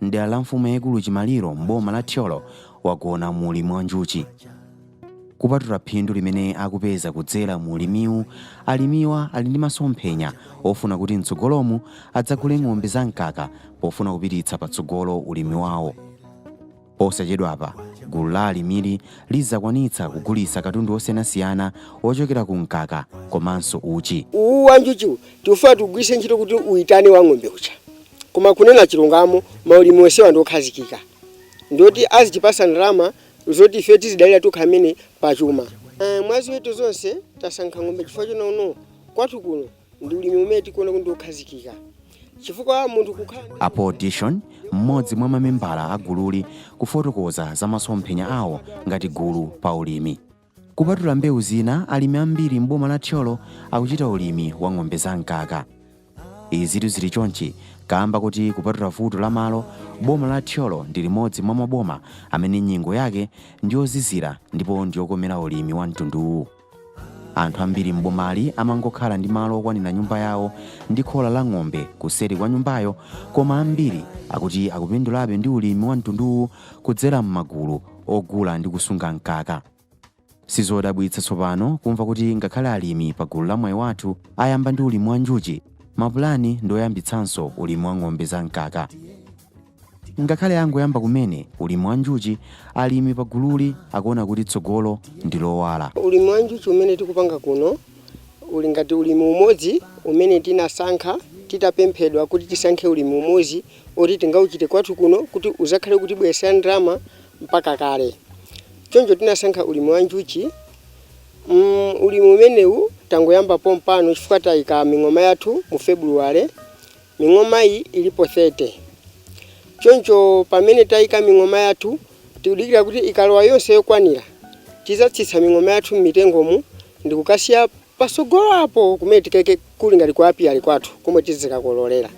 m'dera la mfumu yaikulu Chimaliro m'boma la Thyolo wagona mu ulimi wa njuchi. Kupatula phindu limene akupeza kudzera mu ulimiwu, alimiwa ali ndi masomphenya ofuna kuti mtsogolomu adzagule ng'ombe za mkaka pofuna kupititsa patsogolo ulimi wawo. Posachedwapa, gulu la alimili lidzakwanitsa kugulitsa katundu osiyanasiyana ochokera ku mkaka komanso uchi. uwu wa njuchiwu tikufuna tigwiritse ntchito kuti uitane wa ng'ombe uja koma kunena chilungamo maulimi onsewa ndi okhazikika ndioti azitipasa ndalama zoti ife tizidalira tokha amene pachuma. Mwa ziweto zonse tasankha ng'ombe chifukwa choti kwathu kuno ndi ulimi umene tikuona kuti ndiokhazikika chifukwa munthu kukhala a paul dishon mmodzi mwa mamembala a gululi kufotokoza za masomphenya awo ngati gulu pa ulimi kupatula mbewu zina alimi ambiri m'boma la thyolo akuchita ulimi wa ng'ombe za mkaka izitu zili chonchi kaamba koti kupatula vuto la malo boma la thyolo ndi limodzi mwa maboma amene nyengo yake ndiyozizira ndipo ndiyokomera ulimi wa mtunduwu Anthu ambiri m'bomali amangokhala ndi malo okwanira nyumba yawo ndi khola la ng'ombe kuseri kwa nyumbayo koma ambiri akuti akupindulabe ndi ulimi wa mtunduwu kudzera m'magulu ogula ndi kusunga mkaka. Sizodabwitsa tsopano kumva kuti ngakhale alimi pa gulu la Mwayi Wathu ayamba ndi ulimi wa njuchi, mapulani ndi oyambitsanso ulimi wa ng'ombe za mkaka. Ngakhale angoyamba kumene ulimi wa njuchi, alimi pa gululi akuona kuti tsogolo ndi lowala. Ulimi wa njuchi umene tikupanga kuno uli ngati ulimi umodzi umene tinasankha titapemphedwa kuti tisankhe ulimi umodzi oti tingauchite kwathu kuno kuti uzakhale ukutibweretsera ndalama mpaka kale. Choncho tinasankha ulimi wa njuchi. Ulimi umenewu tangoyamba pompano chifukwa tayika ming'oma yathu mu February. Ming'omayi ilipo 30. Choncho pamene taika ming'oma yathu, tikudikira kuti ikalowa yonse yokwanira, tizatsitsa ming'oma yathu m'mitengomu ndi kukasiya patsogolo apo kumene tikaike kuli ngati ku apiary kwathu komwe tizikakololera.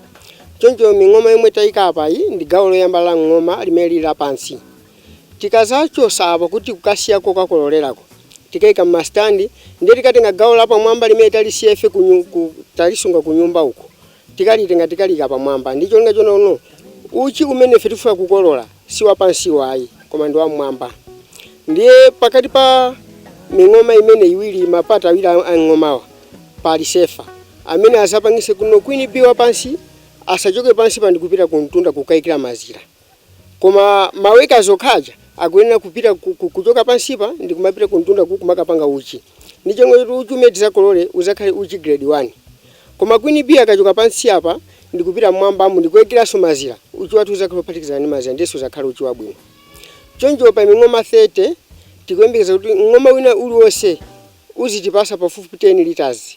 Choncho ming'oma yomwe taika apayi ndi gawo loyamba la mng'oma limene lili lapansi. Tikazachotsa apa kuti kukasiya kokakololerako, tikaika mma stand ndiye tikatenga gawo lapamwamba limene talisiya ife ku ku talisunga kunyumba uko tikalitenga tikaliika pamwamba ndi cholinga chonena kuti no uchi umene ife tikufuna kukolola si wapansiwo ayi koma ndi wammwamba ndiye pakati pa ming'oma imene iwiri mapata awiri a a mng'omawa pali sefa amene azapangitse kuti no queen bee wapansi asachoke pansipa ndi kupita kumtunda kukaikira mazira. koma ma workers okha aja akuyenera kupita kuchoka pansipa ndikumapita kumtunda ku kumakapanga uchi n'cholinga choti uchi umene tizakolole uzakhale uchi grade 1 koma queen bee akachoka pansi apa ndikupita mmwambamu ndikuikiranso mazira uchi wathu uzakhala ophatikizana ndi mazira ndiye suzakhala uchi wabwino choncho pa ming'oma 30 tikuyembekeza kuti mng'oma wina uliwonse uzitipasa pafupifupi 10 liters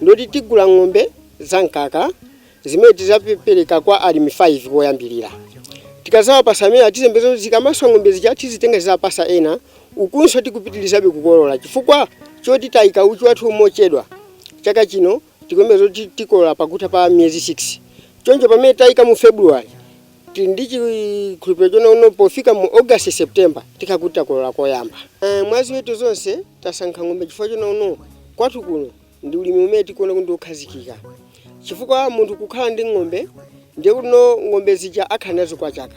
ndoti tigula ng'ombe za mkaka zimene tizapereka kwa alimi 5 koyambirira. Tikazawapasa amenewa tizayembekeza kuti zikamaswa ng'ombe zija tizitenga tizapasa ena ukunso tikupitilizabe kukolola chifukwa choti tayika uchi wathu mochedwa chaka chino tikuyembekeza kuti tikolola pakutha pa miyezi 6 choncho pamene tayika mu February Tili ndi chikhulupiliro chonena kuti pofika mu August, September tikhala kuti takolola koyamba. Mwa ziweto zonse tasankha ng'ombe chifukwa chonena kuti kwathu kuno ndi ulimi umene tikuona kuti ndi okhazikika chifukwa munthu kukhala ndi ng'ombe ndiye kuti no ng'ombe zija akhala nazo kwa chaka.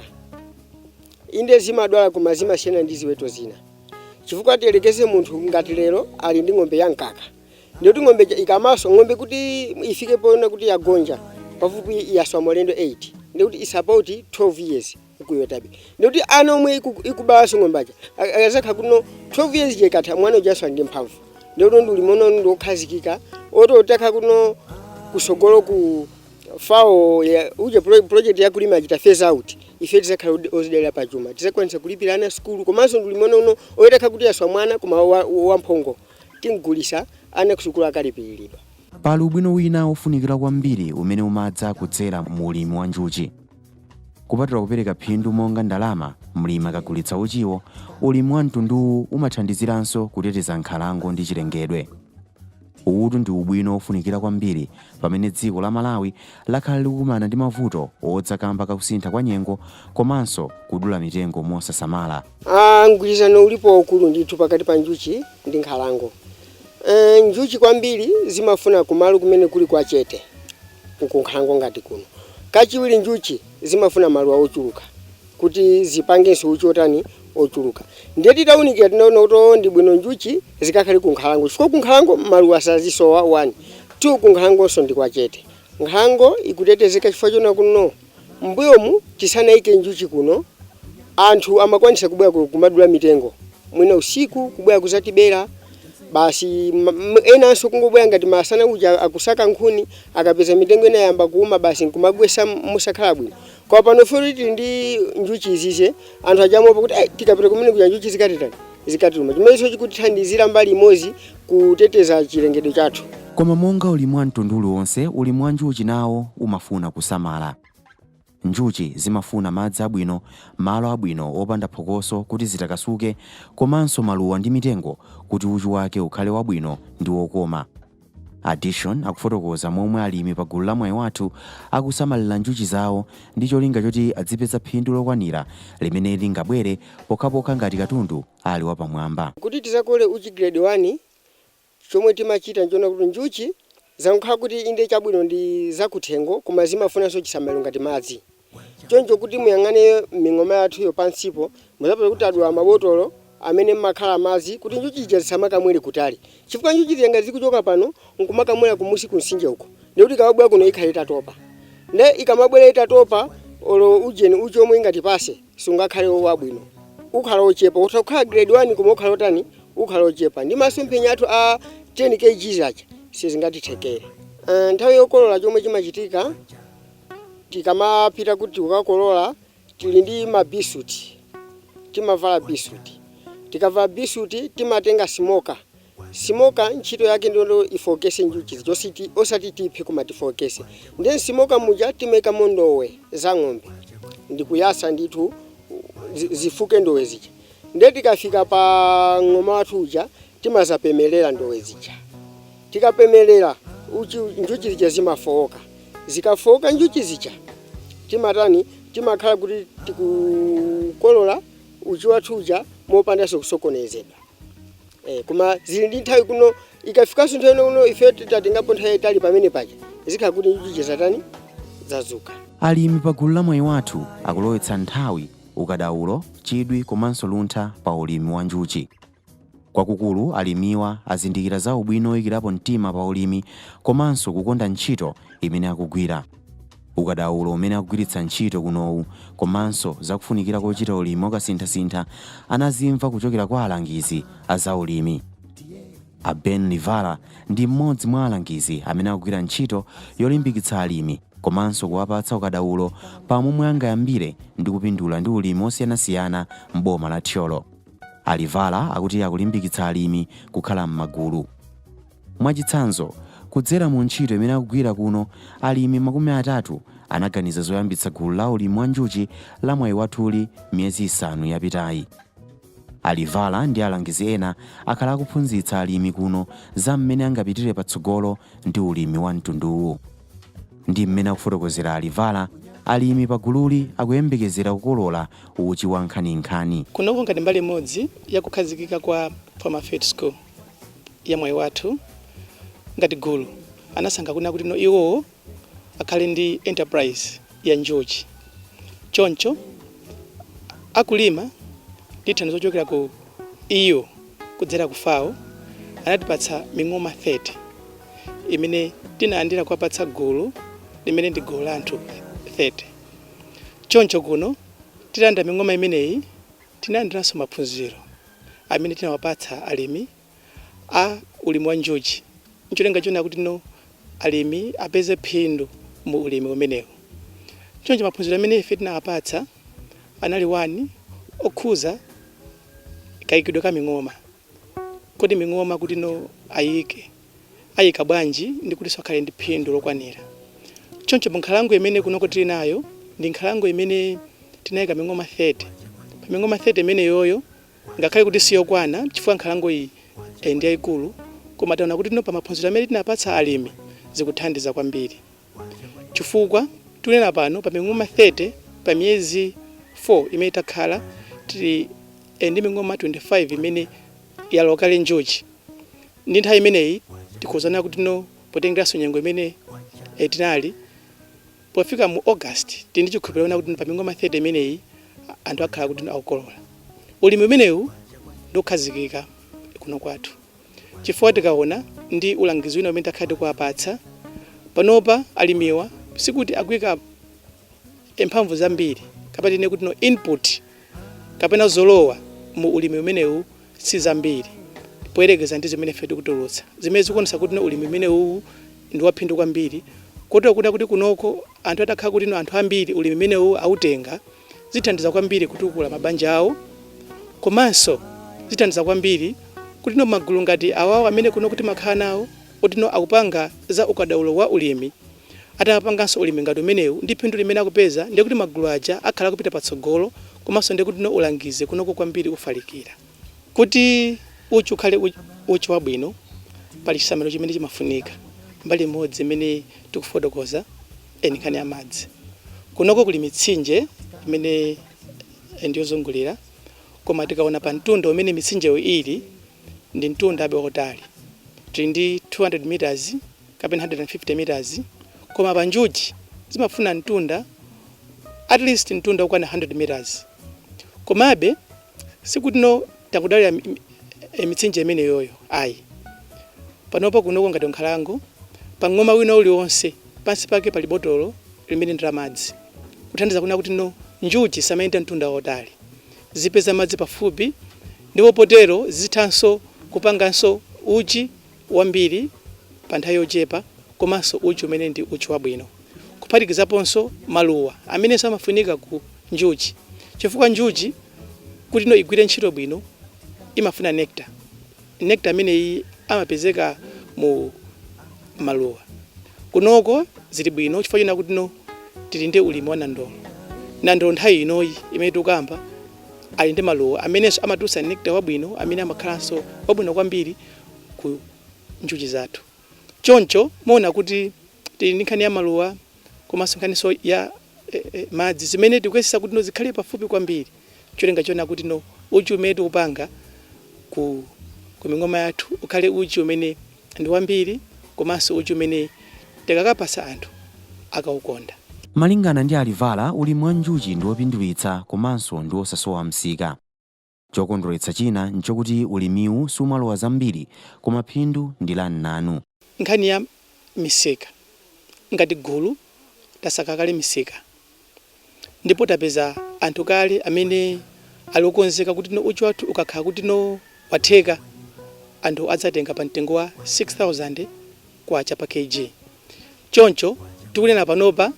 Inde zimadwala koma zimasiyana ndi ziweto zina chifukwa tiyelekeze munthu ngati lero ali ndi ng'ombe ya mkaka. Ndiye kuti ng'ombe ija ikamaswa, ng'ombe kuti ifike poona kuti yagonja, pafupi yaswa maulendo 8. Ndiye kuti it's about 12 years ikuyotabe. Ndiye kuti ana omwe iku- ikubalanso ng'ombe aja, a- akazakhala kuti no 12 years ija ikatha, mwana ujanso ali ndi mphamvu. Ndiye kuti ndi ulimi uno ndi wokhazikika, oti utakhala kuti no kusogolo ku fao ya uje pro- project ya kulima achita phase out ife tizakhala odi- ozidalira pa chuma tizakwanisa kulipira ana sukulu komanso ndi ulimi uno woti itakhala kuti yaswa mwana koma wa- wamphongo Tim'gulitsa ana kusukulu akalipiridwa. Pali ubwino wina wofunikira kwambiri umene umadza kudzera mu ulimi wa njuchi. Kupatula kupereka phindu monga ndalama mlimi akagulitsa uchiwo, ulimi wa mtunduwu umathandiziranso kuteteza nkhalango ndi chilengedwe. Uwutu ndi ubwino wofunikira kwambiri pamene dziko la Malawi lakhala likukumana ndi mavuto odza kamba ka kusintha kwa nyengo komanso kudula mitengo mosasamala. Ah, mgwirizano ulipo waukulu ndithu pakati pa njuchi ndi nkhalango. E, njuchi kwambiri zimafuna kumalo kumene kuli kwa chete kunkhalango ngati kuno. Kachiwiri njuchi zimafuna maluwa ochuluka kuti zipangenso uchi otani ochuluka. Ndiye titaunikira tinaona kuti oh, ndi bwino njuchi zikakhale ku nkhalango chifukwa ku nkhalango maluwa sazisowa 1 2 ku nkhalangonso ndi kwa chete. Nkhalango ikutetezeka chifukwa chonena kuti M'mbuyomu tisanaike njuchi kuno, anthu amakwanisa kubwera kumadula mitengo mwina usiku kubwera kuzatibera basi enanso kungobwera ngati masana uja akusaka nkhuni akapeza mitengo ina yayamba kuuma basi nkumagwetsa mosakhala bwino. Koma pano ife tili ndi njuchi izize anthu aja amaopa kuti ai tikapita kumene kuja njuchi zikatitani? zikatiluma. Chimenecho chikutithandizira mbali imodzi kuteteza chilengedwe chathu. Koma monga ulimi wa mtundu uliwonse, ulimi wa njuchi nawo umafuna kusamala. Njuchi zimafuna madzi abwino, malo abwino opanda phokoso kuti zitakasuke komanso maluwa ndi mitengo kuti uchi wake ukhale wabwino ndi wokoma. Adishoni akufotokoza momwe alimi pa gulu la Mwayi Wathu akusamalira njuchi zawo ndi cholinga choti adzipeza phindu lokwanira limene lingabwere pokhapokha ngati katundu ali wapamwamba. Kuti tizakole uchi grade 1, chomwe timachita nchonena kuti njuchi zankhala kuti inde chabwino ndi zakuthengo koma zimafunanso chisamaliro ngati madzi. Choncho kuti muyang'ane ming'oma yathuyo pansipo, mudzapeza kuti tadula mabotolo amene m'makhala madzi kuti njuchi zija zisamakamwere kutali. Chifukwa njuchi zija ngati zikuchoka pano n'kumakamwera kumusi kumtsinje uko, ndiye kuti ikabwera kuno ikhala itatopa. Ndiye ikamabwera itatopa, olo ujeni uchi womwe ingatipatse sungakhale wabwino. Ukhala wochepa. Utha kukhala grade 1 koma ukhala wotani, ukhala wochepa. Ndiye masomphenya athu a 10 kgs aja sizingatithekere. Nthawi yokolola chomwe chimachitika. Tikamapita kuti kukakolola tili ndi mabisuti, timavala bisuti. Tikavala bisuti timatenga simoka. Simoka ntchito yake ndi yoti ifoketse njuchi zija ositi, osati tiphe koma tifoketse. Ndiye m'simoka muja timaikamo ndowe za ng'ombe ndi kuyatsa ndithu zi zifuke ndowe zija. Ndiye tikafika pa mng'oma wathu uja timadzapemerera ndowe zija. Tikapemelera uchi njuchi zija zimafowoka. Zikafowoka njuchi zija timatani? Timakhala kuti tikukolola uchi wathu uja mopandanso kusokonezedwa. Eeh koma zili ndi nthawi kuti ikafikanso nthawi ino kuno ifeyo titatengapo nthawi yayitali pamene paja zikhala kuti njuchi zija zatani? Zadzuka. Alimi pa gulu la Mwayi Wathu akulowetsa nthawi, ukadaulo, chidwi komanso luntha pa ulimi wa njuchi. Kwakukulu, alimiwa azindikira za ubwino woikirapo mtima pa ulimi komanso kukonda ntchito imene akugwira. Ukadaulo umene akugwiritsa ntchito kunowu komanso za kufunikira kochita ulimi wakasinthasintha anazimva kuchokera kwa alangizi a za ulimi. A Ben Livala ndi mmodzi mwa alangizi amene akugwira ntchito yolimbikitsa alimi komanso kuwapatsa ukadaulo pa momwe angayambire ndi kupindula ndi ulimi wosiyanasiyana m'boma la Thyolo. A Livala akuti akulimbikitsa alimi kukhala m'magulu. Mwachitsanzo, kudzera mu ntchito imene akugwira kuno, alimi makumi atatu anaganiza zoyambitsa gulu la ulimi wa njuchi la Mwayi Wathuli miyezi isanu yapitayi. A Livala ndi alangizi ena akhala akuphunzitsa alimi kuno za mmene angapitire patsogolo ndi ulimi wa mtunduwu. Ndi mmene akufotokozera a Livala, alimi pa gululi akuyembekezera kukolola uchi wa nkhaninkhani. Kunoko ngati mbali imodzi ya kukhazikika kwa Farmer Field School ya Mwayi Wathu, ngati gulu anasankha kunena kuti no iwo akhale ndi enterprise ya njuchi. Choncho akulima ndi thandizo lochokera ku EU kudzera ku FAO anatipatsa ming'oma 30. imene tinalandira kuwapatsa gulu limene ndi gulu la anthu 30 choncho kuno titalandira ming'oma imeneyi tinalandiranso maphunziro amene tinawapatsa alimi a ulimi wa njuchi ncholinga chonena kuti no alimi apeze phindu mu ulimi umenewu choncho maphunziro amene ife tinawapatsa anali 1 okhuza kaikidwe ka ming'oma Kodi ming'oma kuti no ayike, ayika bwanji ndi kutinso akhale ndi phindu lokwanira? Choncho pa nkhalango imene kunoko tili nayo ndi nkhalango imene tinayika ming'oma 30. Pa ming'oma 30 imeneyoyo ngakhale kuti siyokwana chifukwa nkhalango iyi ndi yayikulu koma taona kuti no pa maphunziro amene tinapatsa alimi zikuthandiza kwambiri. Cifukwa tikunena pano, pa ming'oma 30 pa miyezi 4 imene takhala, tili ndi ming'oma 25 imene yalowa kale njuci. Ndi nthawi imeneyi tikhoza kunena kuti no potengeranso nyengo imene tinali, pofika mu August tili ndi cikhulupiriro conena kuti no pa ming'oma 30 imeneyi anthu akhala kuti no akukolola. Ulimi umenewu ndi wokhazikika kuno kwathu. chifukwa tikaona ndi ulangizi wina umene takhala tikuwapatsa, panopa alimiwa sikuti akuika mphamvu zambiri kapena tinene kuti no input kapena zolowa mu ulimi umenewu si zambiri poyerekeza ndi zimene ife tikutulutsa, zimene zikuonetsa kuti no ulimi umenewuwu ndi waphindu kwambiri kotero kunena kuti kunoko anthu atakhala kuti no anthu ambiri ulimi umenewu autenga, zithandiza kwambiri kutukula mabanja awo komanso zithandiza kwambiri kutino magulu ngati awawo amene kunoko timakhala nawo otino akupanga za ukadaulo wa ulimi atapanganso ulimi ngati umenewu ndi phindu limene akupeza ndiye kuti magulu aja akhala akupita patsogolo komanso ndiye kutino ulangizi kunoko kwambiri ufalikira kuti uchi ukhale uchi wabwino pali chisamaliro chimene chimafunika mbali imodzi imene tikufotokoza ndi nkhani ya madzi. Kunoko kuli mitsinje imene ndi yozungulira koma tikaona pa mtunda umene mitsinjeyo ili ndi mtundabe wautali. Tili ndi 200 meters kapena 150 meters koma pa njuchi zimafuna mtunda at least mtunda wokwana 100 meters. Komabe sikutino tangodalira mitsinje imeneyoyo ayi. Panopa kunoko ngati ku nkhalango pa mng'oma wina uliwonse. Pansi pake pali botolo limene ndi la madzi, kuthandiza kunena kuti no njuchi zisamayenda mtunda wautali, zipeza madzi pafupi ndipo potero zithanso kupanganso uchi wambiri pa nthawi yochepa komanso uchi umene ndi uchi wabwino, kuphatikizaponso maluwa amenenso amafunika ku njuchi chifukwa njuchi kuti no igwire ntchito bwino imafuna nectar. Nectar ameneyi amapezeka mu maluwa. Kunoko zili bwino chifukwa chonena kutino tili ndi ulimi wa nandolo. Nandolo nthawi inoyi imene tikukamba ali ndi maluwa amenenso amatulutsa nectar wabwino amene amakhalanso wabwino kwambiri ku njuchi zathu. Choncho muona kuti tili ndi nkhani ya maluwa komanso nkhaninso ya madzi zimene tikuyesetsa kuti no zikhale pafupi kwambiri n'cholinga chonena kuti no uchi umene tikupanga ku ku ming'oma yathu ukhale uchi umene ndi wambiri komanso uchi umene tikakapatsa anthu akaukonda. Malingana ndi a Livala, ulimi wa njuchi ndi wopindulitsa komanso ndi wosasowa msika. Chokondweretsa china nchokuti ulimiwu sumalowa zambiri koma phindu ndi la mnanu. Nkhani ya misika, Ngati gulu tasaka kale misika ndipo tapeza anthu kale amene ali okonzeka kuti no uchi wathu ukakhala kuti no watheka anthu adzatenga pa mtengo wa K6000 pa Kg. Choncho tikunena panopa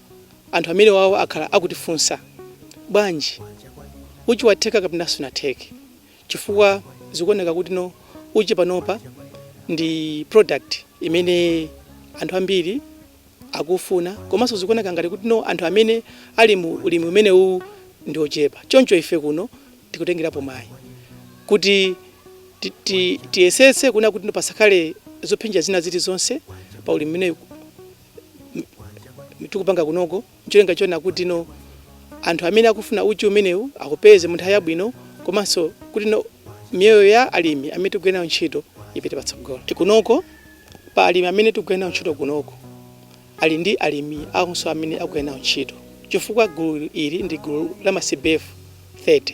anthu amenewawa akhala akutifunsa, Bwanji uchi watheka kapena sunatheke? Chifukwa zikuoneka kuti no uchi panopa ndi product imene anthu ambiri akuufuna komanso zikuoneka ngati kuti no anthu amene ali mu ulimi umenewuwu ndi ochepa. Choncho ife kuno tikutengerapo mwayi kuti tiyesetse kunena kuti no pasakhale zophinja zina zilizonse pa ulimi umenewu tikupanga kunoko ncholinga chonena kuti no anthu amene akufuna uchi umenewu akaupeze mu nthawi yabwino komanso kuti no miyoyo ya alimi amene tikugwira nawo ntchito ipite patsogolo kunoko pa alimi amene tikugwira nawo ntchito kunoko ali ndi alimi awonso amene akugwira nawo ntchito chifukwa gulu ili ndi gulu la ma CBF 30.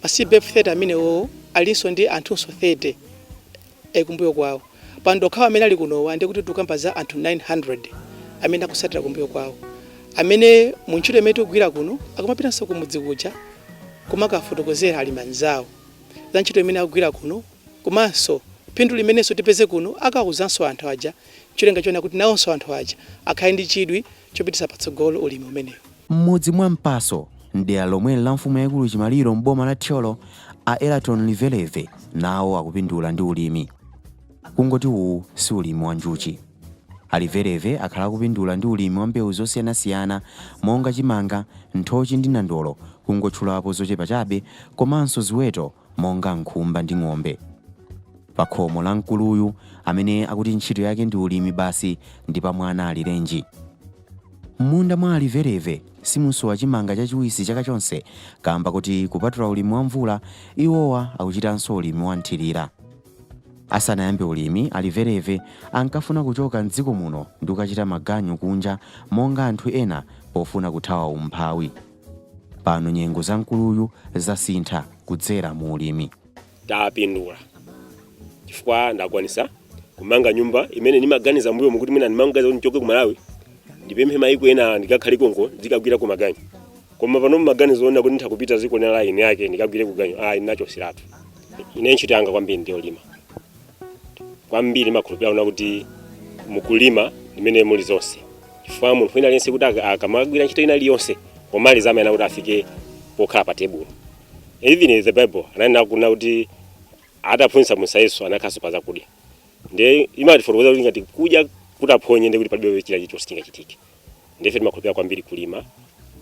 Ma CBF 30 amenewowo alinso ndi anthunso 30 kumbuyo kwawo. Pa anthu okhawa amene ali kunowa ndiye kuti tikukamba za anthu 900 amene akutsatira kumbuyo kwawo, amene mu ntchito imene tikugwira kuno akumapitanso kumudzi kuja kumakafotokozera alimi anzawo za ntchito imene akugwira kuno. Komanso phindu limenenso tipeze kuno, akawauzanso anthu aja cholinga choona kuti nawonso anthu aja akhale ndi chidwi chopititsa patsogolo ulimi umenewu. M'mudzi mwa Mpaso m'dera lomweli la mfumu yaikulu Chimaliro m'boma la Thyolo, a Eraton Liveleve nawo akupindula ndi ulimi. Kungoti uwu si ulimi wa njuchi. A Liveleve akhala akupindula ndi ulimi wa mbewu zosiyanasiyana monga chimanga, nthochi ndi nandolo kungotchulapo zochepa chabe komanso ziweto monga nkhumba ndi ng'ombe. Pakhomo la mkuluyu amene akuti ntchito yake ndi ulimi basi ndi pa mwana alirenji. M'munda mwa Alivereve simusowa chimanga chachiwisi chaka chonse kaamba kuti kupatula ulimi wa mvula, iwowa akuchitanso ulimi wa nthilira. Asanayambe ulimi, Alivereve ankafuna kuchoka m'dziko muno ndi kukachita maganyu kunja monga anthu ena pofuna kuthawa umphawi. Pano nyengo za mkuluyu zasintha kudzera mu ulimi. tapindula chifukwa ndakwanisa kumanga nyumba imene ndimaganiza mbuyomu kuti mwina ndimaganiza kuti ndichoke ku malawi ndipite maiko ena ndikakhale konko ndikagwireko maganyu koma pano maganizo onena kuti nditha kupita ziko lina lake ndikagwireko ganyu ayi ndinachosiratu ine ntchito yanga kwambiri ndiyolima kwambiri ndimakhulupirira kunena kuti mukulima mmene muli zonse chifukwa munthu wina aliyense kuti aka- akamagwira ntchito ina iliyonse pomaliza amayenera kuti afike pokhala pa tebulo even in the bible ananena kunena kuti ataphunzitsa musa yesu anakhaso pa zakudya nde imatifotokozera kuti ngati kudya kutaphonyeka ndi kuti palibe china chilichonse chingachitike nde ife timakhulupirira kwambiri kulima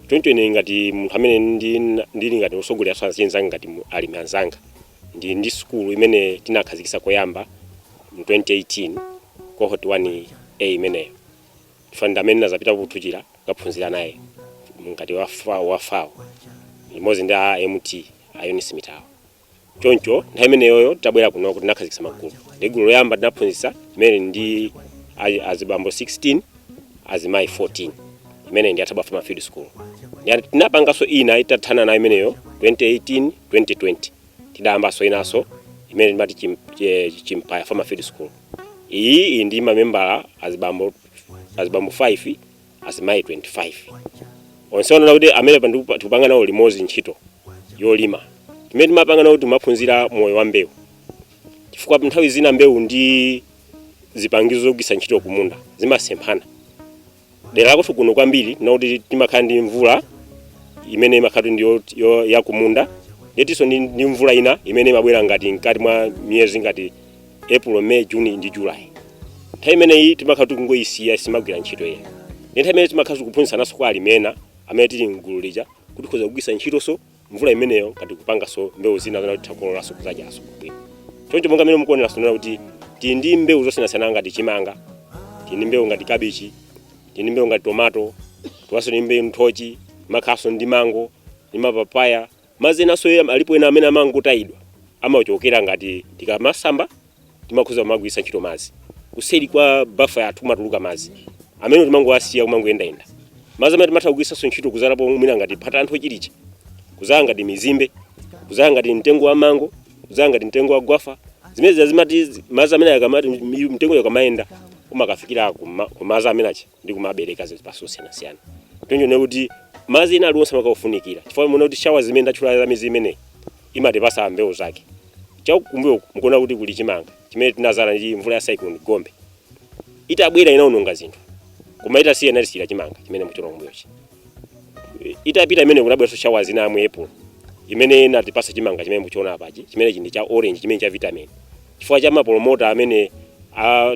choncho ine ngati munthu amene ndi- ndili ngati osogolera azinzanga ngati mu- alimi anzanga ndi ndi sukulu imene tinakhazikisa koyamba mu 2018 cohort 1a imeneyo chifukwa ndi amene ndazapita kuthuchira kukaphunzira naye ngati wa FA- wa FAO limodzi ndi a mt extension imeneyo choncho nthawi imeneyoyo tabwera kunoko tinakhazikitsa magulu ndi gulu loyamba tinaphunzitsa imene ndi a- azibambo 16 azimayi 14 imene ndi Thaba farmer field school Ndi- tinapanganso ina titathana nayo imeneyo 2018 2020 tidayambanso inanso imene timati chim- che- chimpaya farmer field school iyi iyi ndi mamembala azibambo azibambo 5 azimayi 25 onse kunena kuti amene pa ndiku- tikupanga nawo limodzi ntchito yolima zimene timapanga nawo timaphunzira moyo wa mbewu chifukwa nthawi zina mbewu ndi zipangizo zogwisa ntchito kumunda zimasemphana dera lakwathu kuno kwambiri n'lakuti timakhala ndi mvula imene imakhala ndi yo- yo- yakumunda ndiye tilinso ndi ndi mvula ina imene imabwera ngati mkati mwa miyezi ngati april may june ndi july nthawi imeneyi timakhala tikungoyisiya simagwira ntchito ina ndi nthawi imene timakhala tikuphunzitsananso kwa alimi ena amene tili mgulu lija kuti tikhoza kugwiritsa ntchitonso mvula imeneyo ngati kupanganso mbewu zina zimene titha kukololanso kudzadyanso bwino choncho monga mmene mukuonera sonena kuti tili ndi mbewu zosiyanasiyana ngati chimanga tili ndi mbewu ngati kabichi tili ndi mbewu ngati tomato tilinso ndi mbewu nthochi timakhalanso ndi mango ndi mapapaya Madzi enanso alipo ena amene amangotayidwa amachokera ngati tikamasamba timakhoza kumagwiritsa ntchito madzi kuseri kwa bafa yathu kumatuluka madzi amene timangowasiya kumangoyendayenda madzi amene timatha kugwiritsanso ntchito kuzalapo mwina ngati phata la nthochi lija kuzala ngati mizimbe kuzala ngati mtengo wa mango kuzala ngati mtengo wa gwafa zimene zimati madzi amene akamati mtengo uja ukamayenda umakafikira ku ma- ku madzi amene achi ndi kumabereka zipatso zosiyanasiyana zoonetsa kuti madzi ena aliwonse amakhala ofunikira chifukwa muona kuti shawa zimene ndatchula za miyezi imeneyi imatipasa mbewu zake chakumbuyo mukuona kuti kuli chimanga chimene tinazala ndi mvula ya cyclone gombe itabwera inaononga zinthu koma itasiya inatisiyira chimanga chimene mukuchiona kumbuyochi itapita imene kunabweranso shawa zina za mu april imene inatipasa chimanga chimene mukuchiona apachi chimene chili cha orange chimene cha vitamin chifukwa cha ma promoter amene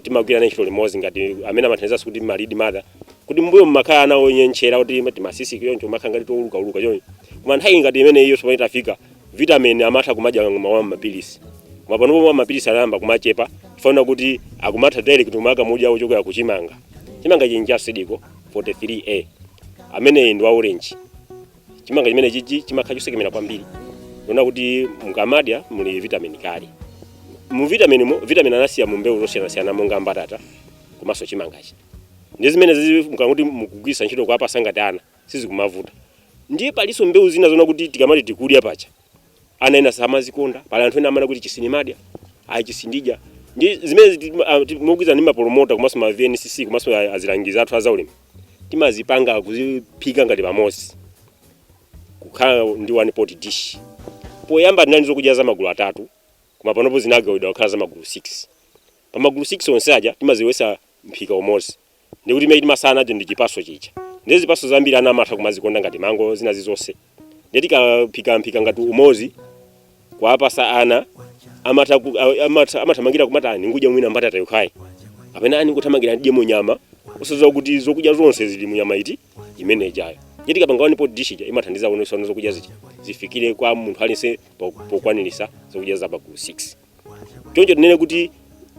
timagwira nawo ntchito limodzi ngati amene amathandizanso kuti ma lead mother kuti mbuyo mmakhala ana onyentchera kuti ma timasisi choncho timakhala ngati towuluka uluka choncho koma nthawi ngati imene iyo tsopano itafika vitamin amatha kumadya mwa mapilisi koma panopo mwa mapilisi anayamba kumachepa chifukwa choti akumatha direct kumakamudya ochokera ku chimanga chimanga chija seed co 43a ameneyi ndi wa orange chimanga chimene chichi chimakhala chosekemera kwambiri ndiye muona kuti mukamadya muli vitamini kale mu vitamini mo vitamini anasiya mu mbewu zosiyanasiyana monga mbatata komanso chimangachi ndi zimene zizi mukati mukugwiritsa ntchito kuwapasa ngati ana sizikumavuta ndiye palinso mbewu zina zonena kuti tikamati tikudya pacha ana ena samazikonda pali anthu ena amanena kuti ichi sindimadya ayi ichi sindidya ndi zimene mogwirizana ndi mapolomota komanso ma vncc komanso a- azilangizi athu azaulimi timazipanga kuziphika ngati pamodzi kukhala ndi one pot dish poyamba tinali zokudya za magulu atatu koma panopo zinagawidwa kukhala za magulu 6 pa magulu 6 onse aja timazibweretsa mphika umodzi ndiye kuti chimene timatsala nacho ndi chipaso chifukwa ndi zipaso zambiri ana amatha kumazikonda ngati mango zina zizonse ndi tikaphikaphika ngati umozi kuwapasa ana amatha ku- a- amatha- amathamangira kumakana kudya mwina mbatata yokhayi kapena ani kuthamangira ndidye munyama osadziwa kuti zokudya zonse zili munyama ayi imene ijayo ndi tikapanga one pot dish ija imathandiza kuonesa kuti zokudya zija zifikire kwa munthu aliyense po- pokwanirisa zokudya za magulu 6 choncho tinene kuti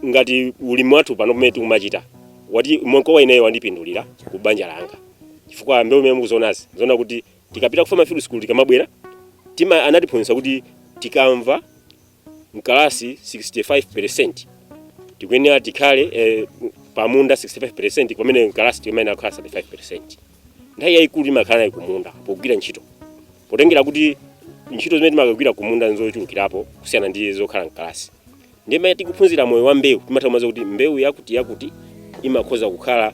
ngati ulimi wathu pano pamene tikumachita ndikuona ineyo wandipindulira ku banja langa chifukwa mbewu imene mukuzionazi ziona kuti tikapita ku farm field school tikamabwera tima anatiphunzitsa kuti tikamva mkalasi 65% tikuyenera tikhale eh, pamunda 65% pamene mkalasi timayenera kukhala 35% nthawi yayikulu imakhala kumunda pogwira ntchito potengera kuti ntchito zimene timakagwira kumunda nzochulukirapo kusiyana ndi zokhala mkalasi ndiye mmene tikuphunzira moyo wa mbewu timatha kumadziwa kuti mbewu yakuti yakuti imakhoza kukhala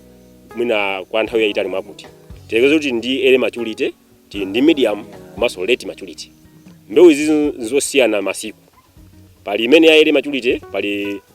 mwina kwa nthawi yayitali mwakuti tiyerekeze kuti ndi early maturity ndi medium komanso late maturity mbewu izi nzosiyana masiku pali imene ya early maturity pali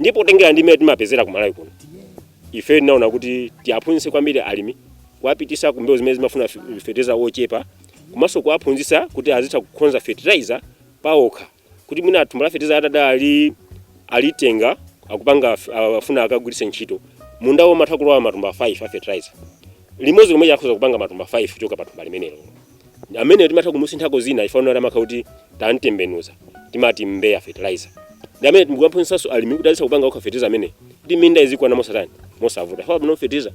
ndipo potengera ndi mmene timapezera ku malawi kuno ife tinaona kuti tiwaphunzitse kwambiri alimi kuwapitisa kumbewu zimene zimafuna fe- fertilizer wochepa komanso kuwaphunzitsa kuti azitha kukonza fertilizer paokha kuti mwina thumba la fertilizer atati alitenga akupanga af- afuna akagwiritse ntchito munda wo amatha kulowa matumba 5 a fertilizer limodzi lomwe akhoza kupanga matumba 5 kuchoka pa thumba limenelo ameneyo timatha kumusinthako zina ifanira kuti amakhala kuti tamtembenuza timati mbeya fertilizer ndi amene tikuwaphunzitsanso alimi kuti azitha kupanga okha fertilizer amene kuti minda izikwana mosatani mosavuta chifukwa pano fertilizer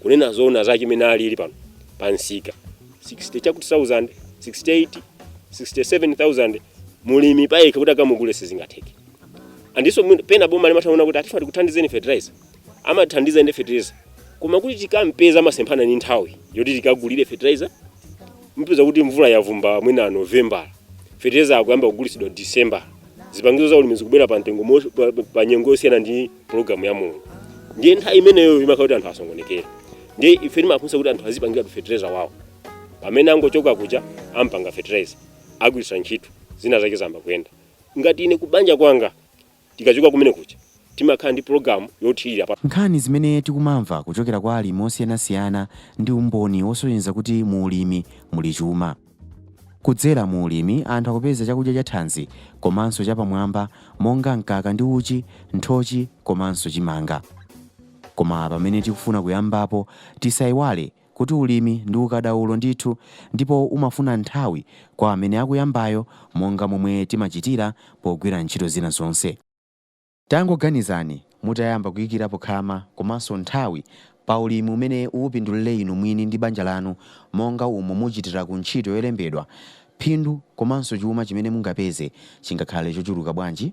kunena zoona zake mmene alili pano pa msika 60 chakuti 1000 68 67000 mlimi payekha kuti akamugule sizingatheke nanenso mwina- pena boma limatha kuona kuti ati tifuna tikuthandizeni fertilizer amatithandiza ndi fertilizer koma kuti tikampeza amasemphana ndi nthawi yoti tikagulire fertilizer mupeza kuti mvula yavumba mwina november fertilizer akuyamba kugulitsidwa december zipangizo za ulimi zikubwera pa mtengo mo- pa- pa- pa nyengo yosiyana ndi programu ya mulungu ndiye nthawi imeneyo imakhala kuti anthu asokonekera ndiye ife timaphunzitsa kuti anthu azipangiratu fertilizer wawo pamene angochoka kuja ampanga fertilizer agwiritsa ntchito zinthu zake zayamba kuyenda ngati ine kubanja kwanga Tikachoka kumene kuja timakhala ndi pulogalamu yothirira pa. Nkhani zimene tikumamva kuchokera kwa alimi osiyanasiyana ndi umboni wosonyeza kuti mu ulimi muli chuma. Kudzera mu ulimi anthu akupeza chakudya chathanzi komanso chapamwamba monga mkaka ndi uchi, nthochi komanso chimanga. Koma pamene tikufuna kuyambapo tisaiwale kuti ulimi ndi ukadaulo ndithu ndipo umafuna nthawi kwa amene akuyambayo monga momwe timachitira pogwira ntchito zina zonse. Tangoganizani mutayamba kuikirapo khama komanso nthawi pa ulimi umene upindulire inu mwini ndi banja lanu monga umo muchitira ku ntchito yolembedwa, phindu komanso chuma chimene mungapeze chingakhale chochuluka bwanji?